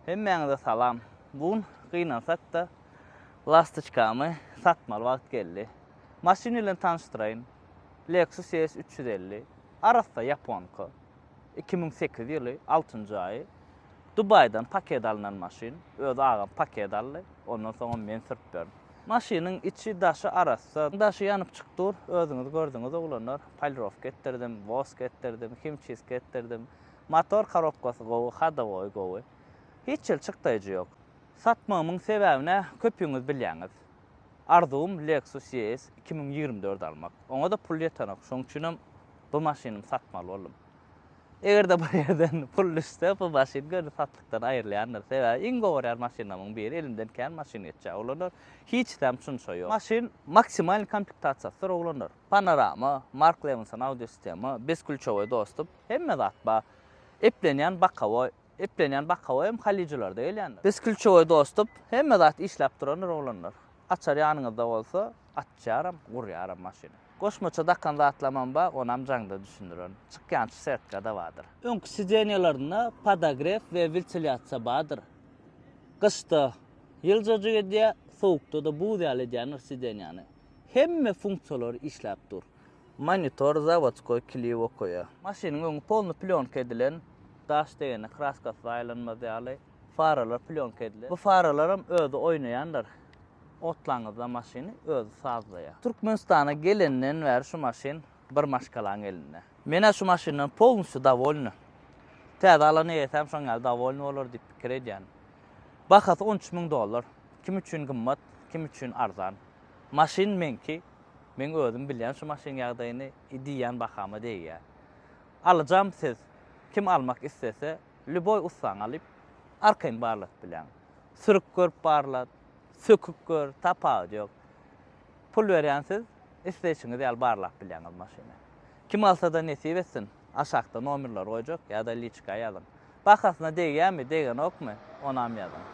Hemmäňize salam. Bu gün gynansakda lastoçkamy satmaly wagt geldi. Maşyn bilen tanyşdyraýyn. Lexus ES üç ýüz elli. Arassa ýaponka. Iki müň sekiz ýyly, altynjy aýy. Dubaýdan paket alnan maşyn. Özi agam paket aldy. Ondan soňam men sürüp ýörün. Maşynyň içi daşy arassa. Daşy ýanyp çyk dur. Özüňiz gördüňiz oglanlar. Polirowka etdirdim, wosk etdirdim, himçistka etdirdim. Motor korobkasy gowy, hadowoý gowy. Hiç hil çykdaýjy ýok. Satmagymyň sebäbine köpüňiz bilýäňiz. Arzuwym Lexus ES iki müň ýigrimi dört almak. Oňa-da pul ýetenok. Şoň üçinem bu maşynymy satmaly boldum. Eger-de bir ýerden pul düşse, bu maşyn göni satlykdan aýrylýandyr. Sebäbi iň gowarýan maşynlarymyň biri. Elimden kän maşyn geçýär, oglanlar. Hiç zäm çunça ýok. Maşyn maksimalnyý komplektasiýasydyr, oglanlar. Panorama, Mark Levinson audiosistema, beskulçowoý dostum. Hemme zat bar. Eplenýän bakawoý. Eplenýän bakawoý hem Halyjylarda gelýändir. Biz klýuçowoý dostup, hemme zat işläp durandyr, oglanlar. Açar ýanyňyzda bolsa, açýaram, gurýaram maşyny. Goşmaça dakan zatlamam bar, onam jaňda düşündirerin. Çykýançy setka-da bardyr. Öňki sidenýalarynda podagref we wiltilýasiýa bardyr. Gyşda ýyljajyk edýär, sowukda-da buz ýaly edýändir sidenýany. Hemme funksiýalary işläp dur. Monitor zawodskoý klip okaýar. Maşynyň öňi polny plýonka edilen, daş degende kraskasy zaýalanmaz ýaly, faralar plýonka edilen. Bu faralaram özi oýnaýandyr. Otlaňyzda maşyny özi sazlaýar. Türkmenistana gelenden bäri şu maşyn bir maşgalaň elinde. Men-ä şu maşyndan polnusýo dowolny. Täze alan eýesäm şoň ýaly dowolny bolar diýip pikir edýän. Bahasy on üç müň dollar. Kim üçin gymmat, kim üçin arzan. Maşyn meňki, meň özüm bilýän şu maşynyň ýagdaýyny, i diýýän bahama degýär. Alyjam siz, kim almak islese, lýuboý ussaňy alyp, arkaýyn barladyp biläň. Sürüp görüp barlat, söküp gör, tapawudy ýok. Pul berýän siz, isleýşiňiz ýaly barlap bilýäňiz maşyny. Kim alsa-da nesip etsin, aşakda nomerleri goýjak ýa-da liçka ýazyň. Bahasyna degýärmi, degenokmy, onam ýazyň.